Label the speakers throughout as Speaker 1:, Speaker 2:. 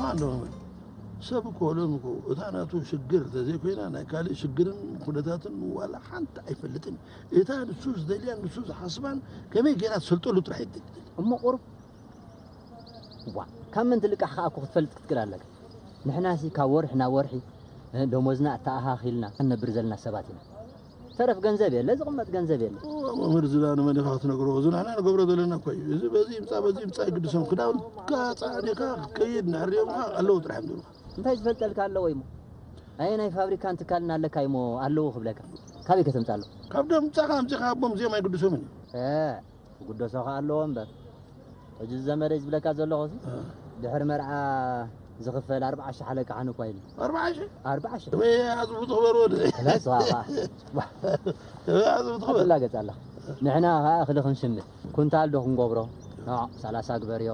Speaker 1: ኣለኹ ሰብ እኮ ሎም እኮ እታ ናቱ ሽግር እንተዘይኮይና ናይ ካልእ ሽግርን ኩነታትን ዋላ ሓንቲ ኣይፈልጥን እታ ንሱ ዝደልያን ንሱ ዝሓስባን ከመይ ገይራ ትሰልጠሉ ጥራሕ እሞ ቁሩብ
Speaker 2: እዋ ካብ መን ትልቃሕ ከኣ እኮ ክትፈልጥ ክትክእል ኣለካ ንሕናሲ ካብ ወርሒ ናብ ወርሒ ደሞዝና ኣተኣኻኺልና ክንነብር ዘለና ሰባት ኢና ተረፍ ገንዘብ የለ ዝቕመጥ ገንዘብ የለ መምህር ዝና ንመን
Speaker 1: ኢኻ ክትነግሮ እዚ ንሕና ንገብሮ ዘለና እኮ እዩ እዚ በዚ ይምፃእ በዚ ይምፃእ ይግድሶም ክዳውንትካ ፃዕኒኻ ክትከይድ ንሕርዮምካ ኣለዉ ጥራሕ ንብልካ እንታይ ዝፈልጠልካ
Speaker 2: ኣለዎ እሞ ኣየ ናይ ፋብሪካን ትካልን ኣለካ እሞ ኣለዎ ክብለካ ካበይ ከተምፃ ኣለዎ ካብ ደምፃኻ ኣምፂኻ
Speaker 1: ኣቦም እዚኦም ኣይግድሶምን እዩ ክግደሶ
Speaker 2: ከኣ ኣለዎ እምበር ሕጂ ዘመደይ ዝብለካ ዘለኹ ድሕሪ መርዓ ዝኽፈል ኣርብዓ ሽሕ ኣለካ ሓን እኳ ኢሉ ኣርብዓ ሽሕ ኣርብዓ ሽሕ ወይ ኣዝቡ
Speaker 1: ትኽበር ወደ ለስኻ ኣዝቡ ትኽበር ላገጽ ኣላ
Speaker 2: ንሕና ከዓ እኽሊ ክንሽምት ኩንታል ዶ ክንገብሮ ሰላሳ ግበርዮ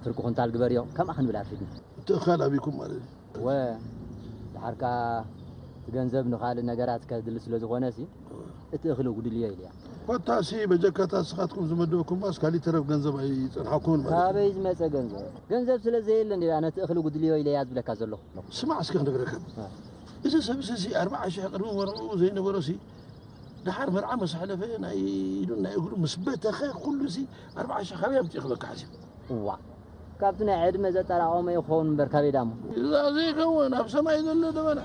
Speaker 2: ፍርቂ ኩንታል ግበርዮ ከምኣ ክንብል ኣርፊድና እቲ እኻል ኣቢኩም
Speaker 1: ማለት እዩ እወ
Speaker 2: ደሓር ከኣ እቲ ገንዘብ ንኻልእ ነገራት ከድሊ ስለ ዝኾነሲ እቲ እኽሊ ኣጉድልዮ ኢልያ። ኮታሲ በጀካ
Speaker 1: እታ ንስኻትኩም ዝመደብኩማስ ካሊእ ተረፍ ገንዘብ ኣይጸንሓኩምን ማለት እዩ። ካበይ ዝመጸ
Speaker 2: ገንዘብ? ገንዘብ ስለ ዘየለ እንድያ ነቲ እኽሊ ኣጉድልዮ ኢለያ ዝብለካ ዘለኹ። ስማዕ እስከ ክነግረካ
Speaker 1: እዚ ሰብሲ እዚ ኣርብዓ ሽሕ ቅድሚ መርዕኡ ዘይነበሮሲ ደሓር መርዓ ምስ ሓለፈ ናይ ኢዱን ናይ እግሩ ምስ በተኸ ኩሉሲ ኣርብዓ ሽሕ ካበይ ኣምጺኡ ክበካ ሓሲቡ እዋ
Speaker 2: ካብቲ ናይ ዕድመ ዘጠራቐሞ እዩ ክኸውን እምበር ካበይ ዳሞ። እዛ ዘይከውን
Speaker 1: ኣብ ሰማይ ዘሎ ደበና።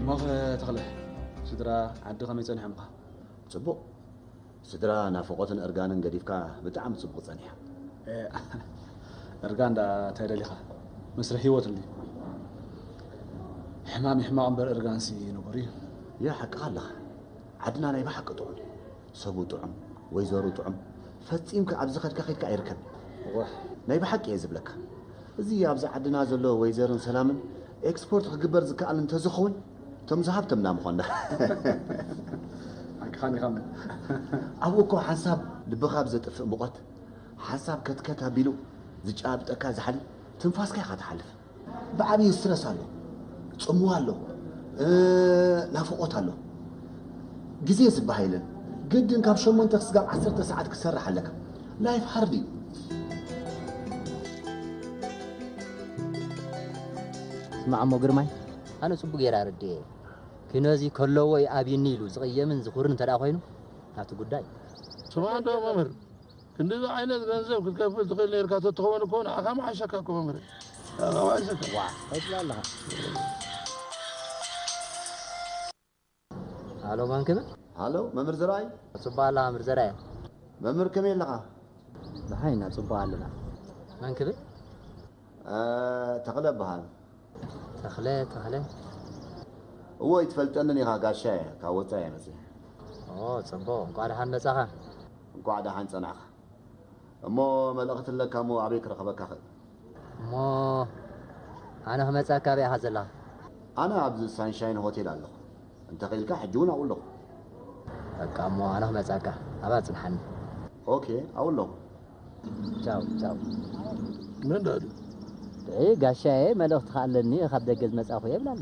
Speaker 3: እሞኸ ተኽለ ስድራ ዓዲ ከመይ ጸኒሖምካ ጽቡቕ?
Speaker 4: ስድራ ናፍቆትን እርጋንን ገዲፍካ ብጣዕሚ ጽቡቅ ጸኒሓ። ኤእ
Speaker 3: እርጋን ደኣ ታይ ደሊኻ መስርሕ ሂወት እንድዩ ሕማም ዩ ሕማቕ እምበር እርጋንሲ ንቡር ዩ። ያ ሓቅኻ
Speaker 4: ኣለኻ ዓድና ናይ ብሓቂ ጥዑም ዩ ሰቡ ጥዑም ወይዘሩ ጥዑም ፈጺምካ ኣብ ዝኸድካ ከድካ ኣይርከብን ኡሕ
Speaker 3: ናይ ብሓቂ እየ
Speaker 4: ዝብለካ እዚ ኣብዚ ዓድና ዘሎ ወይዘርን ሰላምን ኤክስፖርት ክግበር ዝከኣል እንተዝኸውን እቶም ዝሃብተምና ምኾና ሓቅኻን
Speaker 3: ኢኻ እሞ ኣብኡ እኮ
Speaker 4: ሓንሳብ ልብኻ ብዘጥፍእ ሙቐት ሓንሳብ ከትከት ኣቢሉ ዝጨባብጠካ ዛሕሊ ትንፋስካ ኢኻ ትሓልፍ ብዓብዪ ስትረስ ኣሎ ጽምዋ ኣሎ ናፍቖት ኣሎ ግዜ ዝባሃ የለን ግድን ካብ ሸሞንተ ክስጋብ ዓሰርተ ሰዓት ክትሰርሕ ኣለካ ላይፍ ሃርድ እዩ
Speaker 2: ስማዕ እሞ ግርማይ ኣነ ጽቡቅ ጌረ ኣረዲኤ ክነዚ ከለዎ ዩ ኣብይኒ ኢሉ ዝቅየምን ዝኩርን እንተ ኮይኑ ናቱ ጉዳይ። ስማዕንዶ
Speaker 1: መምህር ክንድዚ ዓይነት ገንዘብ ክትከፍል ትኽእል ነርካ ተትኸውን እኮ ንዓኻ ምሓሸካ እኮ መምህር ንዓኻ ምሓሸካ ዋእ እንታይ ትብል ኣለኻ
Speaker 2: ሃሎ መን ክብል? ሃሎ መምህር ዘርኣይ።
Speaker 4: ጽቡቕ ኣለኻ መምህር ዘርኣይ።
Speaker 2: መምህር ከመይ
Speaker 4: ኣለኻ? ደሓን ኢና
Speaker 2: ጽቡቕ ኣለና። መን ክብል? ተኽለ
Speaker 4: እበሃል። ተኽለ
Speaker 2: ተኽለ።
Speaker 4: እወ ኣይትፈልጠንን ኢኻ ጋሻ እየ ካብ ወጻኢ እየ መጺኣ። ኦ ጽቡቕ
Speaker 2: እንቋዕ ደሓን መጻኻ። እንቋዕ ደሓን
Speaker 4: ጸናሕካ። እሞ መልእኽቲ ኣለካ እሞ ኣበይ ክረኽበካ እኽእል? እሞ
Speaker 2: ኣነ ክመጸካ ኣበይ ኢኻ ዘለኻ? ኣነ ኣብዚ
Speaker 4: ሳንሻይን ሆቴል ኣለኹ። እንተ ኽኢልካ ሕጂ እውን ኣብኡ ኣለኹ። በቃ
Speaker 2: እሞ ኣነ ክመጸካ ኣብኣ ጽንሓኒ። ኦኬ
Speaker 4: ኣብኡ ኣለኹ። ቻው
Speaker 2: ቻው።
Speaker 1: መን ድኣ ድዩ? ደይ
Speaker 2: ጋሻየ መልእኽቲ ከኣ ኣለኒ ካብ ደገ ዝመጻኹ እየ ይብል ኣሎ።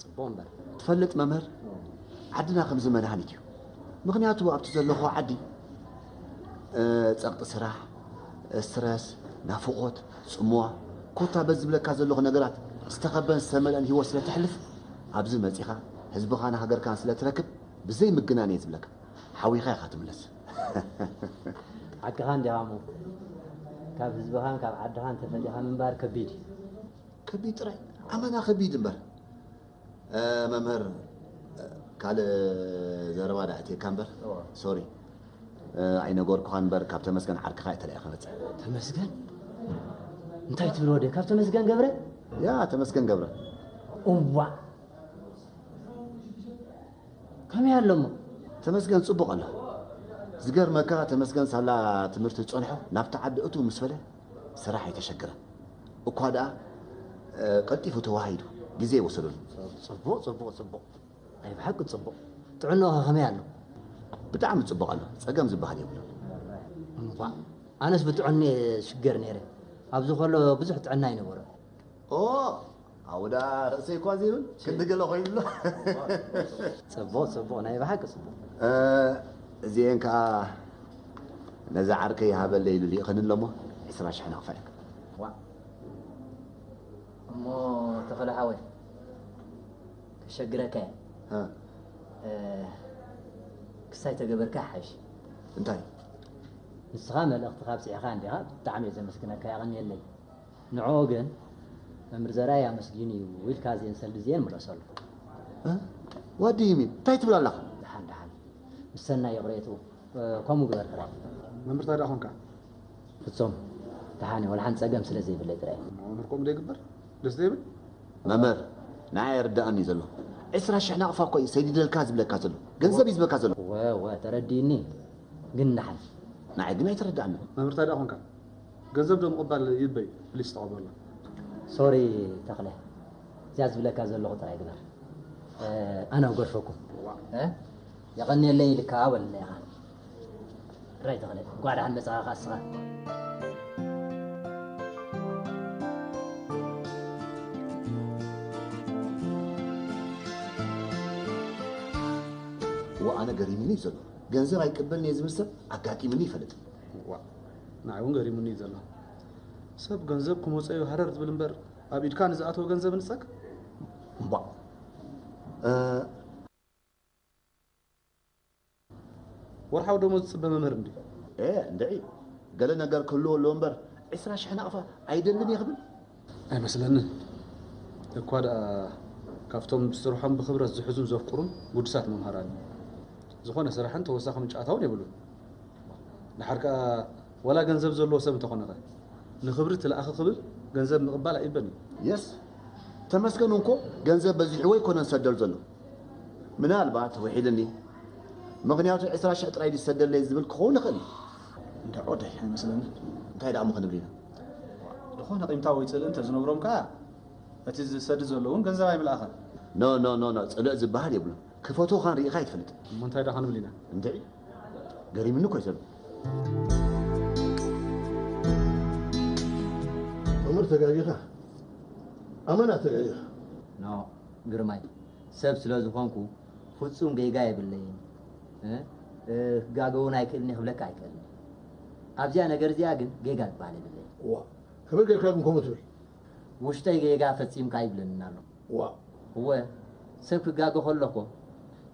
Speaker 2: ጽቡቕ እምበር ትፈልጥ መምህር
Speaker 4: ዓድና ከምዚ መድሃኒት እዩ ምኽንያቱ ኣብቲ ዘለኹዎ ዓዲ ጸቕጢ ስራሕ ስትረስ ናፍቖት ጽምዋ ኮታ በዚ ዝብለካ ዘለኹ ነገራት ዝተኸበን ዝተመልአን ሂወት ስለ ተሕልፍ ኣብዚ መጺኻ ህዝብኻን ሃገርካን ስለ ትረክብ ብዘይ ምግናን እየ ዝብለካ ሓዊኻ ኢኻ ትምለስ ሓቅኻ
Speaker 2: እንዲኻ እሞ ካብ ህዝብኻን ካብ ዓድኻን ተፈሊኻ ምንባር ከቢድ እዩ ከቢድ
Speaker 4: ጥራይ ኣመና ከቢድ እምበር መምህር ካልእ ዘረባ ዳ ኣእትየካ እምበር ሶሪ ኣይነገርኩኻን እምበር ካብ ተመስገን ዓርክኻ እየ ተላኢኸ መፅእ ተመስገን
Speaker 2: እንታይ ትብል ወደ ካብ ተመስገን ገብረ ያ ተመስገን
Speaker 4: ገብረ እዋ
Speaker 2: ከመይ ኣሎ እሞ ተመስገን ፅቡቕ
Speaker 4: ኣሎ ዝገርመካ ተመስገን ሳላ ትምህርቲ ዝፀንሖ ናብቲ ዓዲ እቱ ምስ በለ ስራሕ ኣይተሸገረን እኳ ድኣ ቀልጢፉ ተዋሂዱ ግዜ ኣይወሰደሉን። ጽቡቕ ጽቡቕ
Speaker 2: ጽቡቕ ናይ ብሓቂ ጽቡቕ ጥዕናኡኸ ከመይ ኣሎ? ብጣዕሚ
Speaker 4: ጽቡቕ ኣሎ ጸገም ዝበሃል የብሉን። እንቋዕ
Speaker 2: ኣነስ ብጥዕንኡ እየ ዝሽገር ነይረ ኣብዚ ከሎ ብዙሕ ጥዕና ኣይነበሮን። ኦህ
Speaker 4: ኣውዳ ርእሰይ እኳ ዘይብል ክንዲ ገለ ኮይኑ ኣሎ ጽቡቅ
Speaker 2: ጽቡቅ ናይ ብሓቂ ጽቡቅ
Speaker 4: እዚኤን ከኣ ነዚ ዓርከይ ይሃበለይ ኢሉ ልኢኸኒ ኣሎሞ ዕስራ ሽሕ ነኽፈልክ ዋእ
Speaker 2: እሞ ተኸለ ሓወይ ከሸግረካ እየ ክሳይ ተገበርካ ሓይሽ እንታይ ንስኻ መልእኽትኻ ኣብጺሕኻ እንዲኻ ብጣዕሚ እየ ዘመስግነካ የቐንየለይ ንዕኦ ግን መምህር ዘርኣይ ኣመስጊኑ እዩ ኢልካ እዚኤን ሰልዲ እዚኤን ምለሰሉ።
Speaker 4: ዋት ዱ ዩ ሚን እንታይ ትብል ኣለኻ? ደሓን ደሓን
Speaker 2: ምስ ሰናይ ይቕሬትኡ ከምኡ ግበር ጥራይ። መምህር ታይ ደኣ ኮንካ?
Speaker 3: ፍጹም
Speaker 2: ደሓን እየ ወላሓንቲ ጸገም ስለ ዘይብለይ ጥራይ። እሞ መምህር ከምኡ ዶ ይግበር
Speaker 3: ደስ ዶ ይብል? መምህር
Speaker 4: ንዓይ ኣይርደኣን እዩ ዘሎ ዕስራ ሽሕ ናቕፋ እኮ እዩ ሰዲደልካ ዝብለካ ዘሎ ገንዘብ እዩ ዝብለካ ዘሎ። እወ እወ ተረዲኡኒ
Speaker 2: ግን ደሓን። ንዓይ ግን ኣይተረደኣንን።
Speaker 4: መምህር ታይ ደኣ ኮንካ?
Speaker 3: ገንዘብ ዶ ምቅባል ይበይ ፕሊስ ተቀበሎ። ሶሪ
Speaker 2: ተኽለ እዚኣ ዝብለካ ዘለኹ ጥራይ ግበር ኣነ ክገድፈኩም። ዋእ። የቐንየለይ ኢልካ በለለይ ኢኻ ጥራይ ተኽለ እንኳዕ ደሓን መጻኻ ከኣ እስኻ።
Speaker 4: ዋእ ኣነ ገሪሙኒ እዩ ዘሎ ገንዘብ ኣይቅበልን እየ ዝብል ሰብ ኣጋጢሙኒ ኣይፈልጥን። ዋእ።
Speaker 3: ንዓይ እውን ገሪሙኒ እዩ ዘሎ። ሰብ ገንዘብ ክመፀዩ ሃረር ዝብል እምበር ኣብ ኢድካ ንዝኣተወ ገንዘብ ንፀግ እምቧእ ወርሓዊ ደሞዝ ዝፅበ መምህር እንድዩ። ኤእ እንድዒ
Speaker 4: ገለ ነገር ክህልዎ ኣለዎ እምበር ዕስራ ሽሕ ናቕፋ ኣይደልን እየ ክብል?
Speaker 3: ኣይመስለንን እኳ ደኣ ካብቶም ስርሖም ብክብረት ዝሕዙን ዘፍቅሩን ጉዱሳት መምሃራን እዩ። ዝኾነ ስራሕን ተወሳኺ ምንጪ ኣታውን የብሉን። ድሓር ከኣ ዋላ ገንዘብ ዘለዎ ሰብ እንተኾነኸ ንክብሪ ትለኣኺ ክብል ገንዘብ ምቕባል ኣይእበን እዩ። የስ
Speaker 4: ተመስገን እንኮ ገንዘብ በዚሕዎ ኣይኮነን ዝሰደል ዘሎ ምናልባት ውሒድኒ ምክንያቱ ዕስራ ሽሕ ጥራይ ድዩ ዝሰደለይ ዝብል ክኸውን ይኽእል እዩ። እንድዖ
Speaker 3: ዳይ ኣይመስለንን እንታይ ደኣ እሞ ክንብል
Speaker 4: ኢና። ዝኾነ
Speaker 3: ቂምታ ወይ ጽልኢ እንተ ዝነብሮም ከኣ እቲ ዝሰድድ ዘሎ እውን ገንዘብ ኣይምልኣኸን። No no no no
Speaker 4: ጽልኢ ዝብሃል የብሉን ክፈትዉኻን ሪኢኻ ኣይትፈልጥን። እሞ እንታይ ደኣ ክንብል ኢና?
Speaker 3: እንድዒ
Speaker 4: ገሪምኒ እኮ እዩ ዘሎ። መምህር
Speaker 1: ተጋጊኻ ኣመና ተጋጊኻ። No
Speaker 2: ግርማይ ሰብ ስለ ዝኾንኩ ፍጹም ጌጋ የብለይን እ ክጋገ ውን ኣይክእልን እየ ክብለካ ኣይክእልን ኣብዚኣ ነገር እዚኣ ግን ጌጋ ዝብሃል የብለይን። እዋ ከመይ
Speaker 1: ጌርካ ግን ከምኡ ትብል? ውሽጠይ
Speaker 2: ጌጋ ፈጺምካ ይብለኒ ኣሎ። እዋ። እወ ሰብ ክጋገ ከሎ እኮ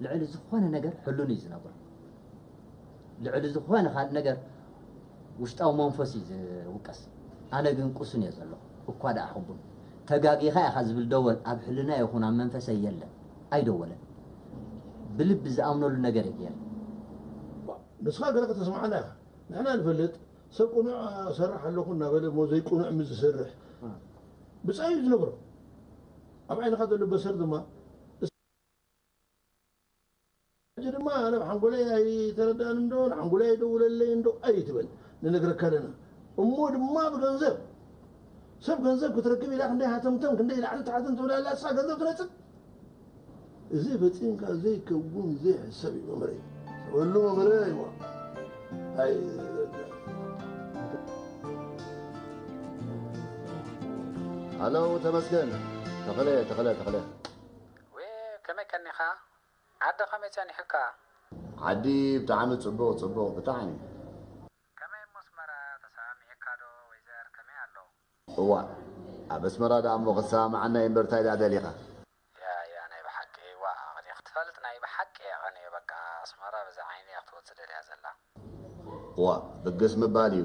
Speaker 2: ልዕሊ ዝኾነ ነገር ሕሉን እዩ ዝነብሮ። ልዕሊ ዝኾነ ካልእ ነገር ውሽጣዊ መንፈስ እዩ ዝውቀስ። ኣነ ግን ቁሱን እየ ዘለኹ። እኳ ደኣ ሕቡን። ተጋጊኻ ኢኻ ዝብል ደወል ኣብ ሕልናይ ይኹን ኣብ መንፈሰይ የለን። ኣይደወለን። ብልቢ ዝኣምነሉ ነገር እየ ገይረ።
Speaker 1: ንስኻ ገለ ከተስምዓና ኢኻ። ንሕና ንፈልጥ፣ ሰብ ቅኑዕ እሰርሕ ኣለኹ እናበለ እሞ ዘይቅኑዕ ምስ ዝሰርሕ ብጻዩ እዩ ዝነብሮ። ኣብ ዓይንኻ ዘሎ በሰር ድማ፣ ሕጂ ድማ ኣነ ብ ሓንጎለይ ኣይተረዳኣን እንዶ ን ሓንጎለይ ኣይደውለለይ እንዶ ኣይትበል ንነግረካ ኣለና እሞ ድማ ብ ገንዘብ ሰብ ገንዘብ ክትረክብ ኢላ ክንደይ ሃተምተም ክንደይ ላዕልን ታሕትን ትብል ኣላ ንሳ ገንዘብ ትነጽግ እዚ ፈጺምካ ዘይከውን ዘይሕሰብ እዩ መምህረይ ሰበሉ መምህረ ኣይዋ ኣይ
Speaker 4: ሃለው ተመስገን ተኸለ ተኸለ ተኸለ
Speaker 5: ዌእ ከመይ ቀኒኻ ዓዲ ከመይ ጸኒሑካ። ዓዲ
Speaker 4: ብጣዕሚ ጽቡቅ ጽቡቅ ብጣዕሚ። ከመይ
Speaker 5: እሞ ኣስመራ ተሰማሚዒካ ዶ ወይዘር ከመይ ኣሎ። እዋእ
Speaker 4: ኣብ ኣስመራ ደኣ እሞ ክትሰማምዓና እዩ እምበር እንታይ ደኣ ደሊኻ። ያያ ናይ
Speaker 5: ብሓቂ ዋእ ኣቅኒየ ክትፈልጥ ናይ ብሓቂ እየ ቀንየ በቃ ኣስመራ በዚ ዓይኒ እያ ክትወጽእ ደልያ ዘላ።
Speaker 4: እዋእ ብግስ ምባል እዩ።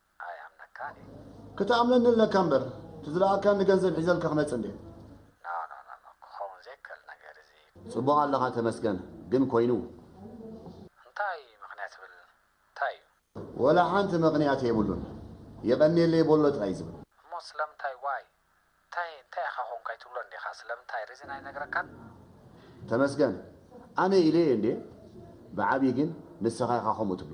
Speaker 4: ኣይኣምነካን
Speaker 5: እየ። ክትኣምነኒ
Speaker 4: ኣለካ እምበር እቲ ዝለኣካኒ ገንዘብ ሒዘልካ ክመጽእ እንድየ። ኖኖኖኖ
Speaker 5: ክኸውን ዘይከል ነገር እዚ። ጽቡቕ ኣለኻ
Speaker 4: ተመስገን ግን ኮይኑ። እንታይ
Speaker 5: ምኽንያት ትብል እንታይ እዩ። ወላ
Speaker 4: ሓንቲ መኽንያት የብሉን የቐንየለይ ቦሎ ጥራይ ዝብል። እሞ ስለምንታይ
Speaker 5: ዋይ እንታይ እንታይ ኢኻ ኮንካ ኣይትብሎን ዲኻ ስለምንታይ ሪዝን ኣይነግረካን። ተመስገን
Speaker 4: ኣነ ኢለዮ እንድየ ብዓብይ ግን ንስኻ ኢኻ ከምኡ ትብሎ።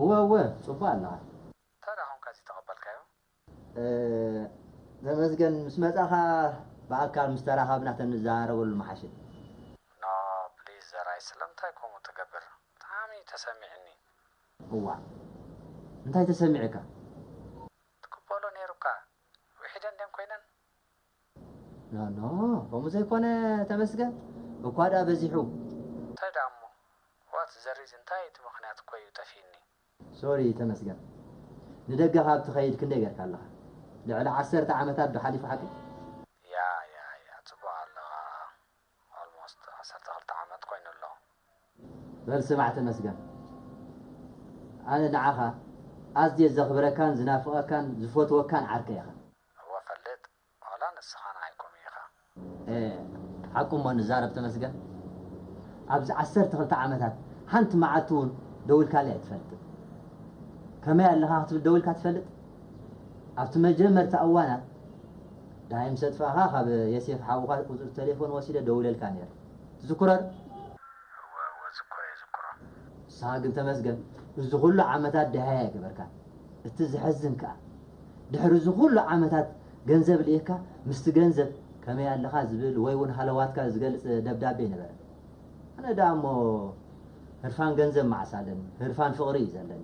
Speaker 5: እወ እወ
Speaker 2: ጽቡቅ ኣለኻ። እንታይ ድኣ ኮንካ
Speaker 5: ዝይተቀበልካዮ?
Speaker 2: ተመስገን ምስ መጻኻ ብኣካል ምስ ተራኻብና ተንዘራረበሉ ምሓሸ። ን
Speaker 5: ፕሊስ ዘራይ ስለምንታይ ከምኡ ትገብር ብጣዕሚ እዩ ተሰሚዕኒ።
Speaker 2: እዋእ እንታይ ተሰሚዑካ?
Speaker 5: ትቅበሎ ኔሩካ ዊሒደን ድየን ኮይነን?
Speaker 2: ኖኖ ከምኡ ዘይኮነ ተመስገን እኳ ድኣ በዚሑ። እንታይ ድኣ እሞ
Speaker 5: ዋት ዘ ሪዝ እንታይ እቲ ምኽንያት እኮ እዩ ጠፊእኒ። ሶሪ
Speaker 2: ተመስገን ንደገ ካብ ትኸይድ ክንደይ ጌርካ ኣለኻ ልዕሊ ዓሰርተ ዓመታት ዶ ሓሊፉ ሓቀይ።
Speaker 5: ያያያ ጽቡቅ ኣለኻ Almost ዓሰርተ ክልተ ዓመት ኮይኑ ኣሎ። በል
Speaker 2: ስማዕ ተመስገን ኣነ ንዓኻ ኣዝየ ዘኽብረካን ዝናፍቐካን ዝፈትወካን ዓርከይ ኢኻ። እወ ፈልጥ
Speaker 5: ዋላ ንስኻ ንዓይ ከምኡ ኢኻ። ኤእ
Speaker 2: ሓቁ እሞ ንዛረብ ተመስገን ኣብዚ ዓሰርተ ክልተ ዓመታት ሓንቲ መዓልቲ እውን ደዊልካለይ ኣይትፈልጥን ከመይ ኣለኻ ክትብል ደዊልካ ትፈልጥ? ኣብቲ መጀመርታ እዋናት ደሃይ ምስ ኣጥፋእካ ካብ የሴፍ ሓውካ ቁጽሪ ተሌፎን ወሲደ ደውለልካ ኔረ ትዝኩረር? እወ
Speaker 5: እወ ዝኩሮ የዝኩሮ። ንስካ ግን
Speaker 2: ተመስገን እዚ ኩሉ ዓመታት ደሃይ ኣይገበርካን እቲ ዘሕዝን ከኣ ድሕሪ እዚ ኩሉ ዓመታት ገንዘብ ልኢክካ ምስቲ ገንዘብ ከመይ ኣለካ ዝብል ወይ ውን ሃለዋትካ ዝገልጽ ደብዳቤ ኣይነበረን ኣነ ደኣ እሞ ህርፋን ገንዘብ መዓስ ኣለኒ ህርፋን ፍቅሪ እዩ ዘለኒ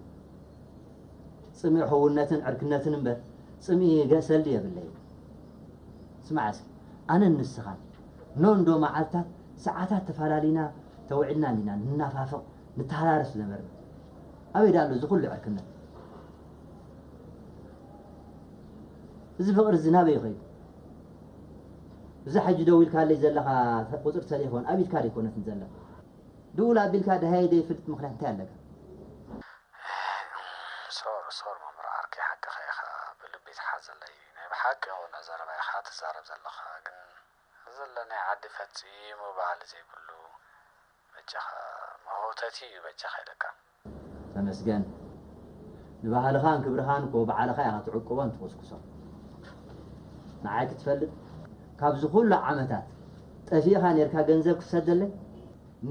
Speaker 2: ጽምኢ ሕውነትን ዕርክነትን እምበር ጽምኢ ገእሰል ድየ የብለይን። ስማዕ እስኪ ኣነን ንስኻን ን እንዶ መዓልታት ሰዓታት ተፋላሊና ተውዒልና እንዲና ንናፋፍቕ ንተሃራረስ ዝነበርና። ኣበይ ድኣ ኣሎ እዚ ኩሉ ዕርክነት? እዚ ፍቕሪ እዚ ናበይ እዩ ከይዱ? እዛ ሕጂ ደዊልካለይ ዘለኻ ቁጽሪ ተሌፎን ኣብ ኢድካ ደይኮነትን ዘላ? ድውል ኣቢልካ ደሃየ ደይፍልጥ ምኽንያት እንታይ ኣለካ?
Speaker 5: እህ ሶር ሶር መምህር ዓርከይ ሓቅኻ ኢኻ ብልቢ ትሓዘለይ ናይ ብሓቂ ቁኑዕ ዘረባ ኢኻ ትዛረብ ዘለኻ ግን ዘለናዮ ዓዲ ፈጺሙ ባህሊ ዘይብሉ በጃኻ መህውተቲ እዩ በጃኻ ኢለካ። ተመስገን
Speaker 2: ንባህልኻን ክብርኻን እኮ ባዕልኻ ኢኻ ትዕቅቦን ትኹስኩሶን ንዓይ ክትፈልጥ ካብዚ ኩሉ ዓመታት ጠፊእኻ ኔርካ ገንዘብ ክትሰደለይ?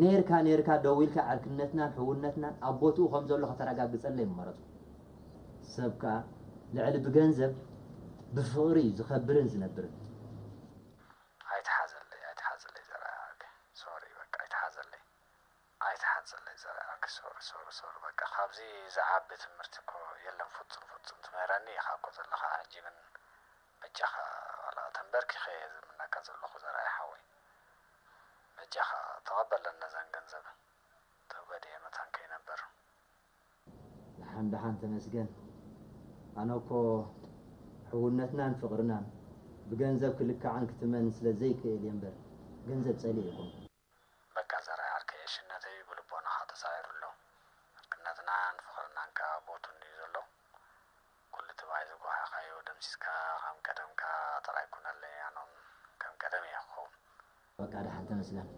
Speaker 2: ኔርካ ኔርካ ደዊልካ ዕርክነትናን ሕውነትናን ኣብ ቦትኡ ከም ዘሎ ከተረጋግጸለይ ምመረጽኩ። ሰብ ከኣ ልዕሊ ብገንዘብ ብፍቕሪ እዩ ዝኸብርን ዝነብርን። ኣይትሓዘለይ
Speaker 5: ኣይትሓዘለይ ዘርኣያኣክ ሶሪ በቃ ኣይትሓዘለይ ኣይትሓዘለይ ዘርኣያኣክ ሶሪ ሶሪ ሶሪ በቃ ካብዚ ዝዓቢ ትምርቲ እኮ የለን ፉጹም ፉጹም ትምህረኒ ኢካ እኮ ዘለካ ሕጂ ግን በጃካ ዋላ ተንበርኪከ እየ ዝምነካ ዘለኩ ዘርኣይ ሓወይ በጃኻ ተቐበለን ነዘን ገንዘብ ተጎዲኤ መታን ከይነብር። ደሓን
Speaker 2: ደሓን ተመስገን ኣነ እኮ ሕውነትናን ፍቕርናን ብገንዘብ ክልካዕን ክትመን ስለ ዘይክእል እየ እምበር ገንዘብ ጸሊኤ ኣይኮንኩን። በቃ
Speaker 5: ዘርኣይ ዓርከይ ዕሽነተይ ብልቦናኻ ተሳዒሩ ኣሎ ዕርክነትናን ፍቕርናን ከኣ ቦቱ እንድዩ ዘሎ ኩሉ ትማይ ዝጓሃኻዮ ደምሲስካ ከም ቀደምካ ጥራይ ኩነለይ ኣኖም ከም ቀደም እየ ክኸውን። በቃ ደሓን
Speaker 2: ተመስገን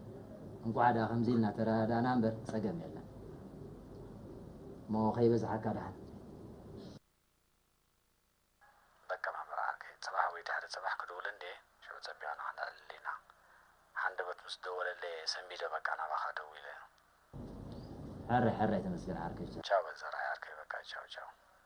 Speaker 2: እንቋዕ ደኣ ከምዚ ኢልና ተረዳዳእና እምበር ጸገም የለን እሞ ከይበዝሓካ ደሓን።
Speaker 5: በቃ መምህር ዓርከይ ጽባሕ ወይ ድሕሪ ጽባሕ ክድውል እንድየ ሽዑ ጸቢቕና ክነዕልል ኢና። ሃንደበት ምስ ደወለለይ እየ ሰንቢደ በቃ ናባኻ ደዊለ።
Speaker 2: ሕራይ ሕራይ ተመስገን ዓርከይ ቻው። ቻው በል ዘርኣይ ዓርከይ
Speaker 5: በቃ ቻው ቻው።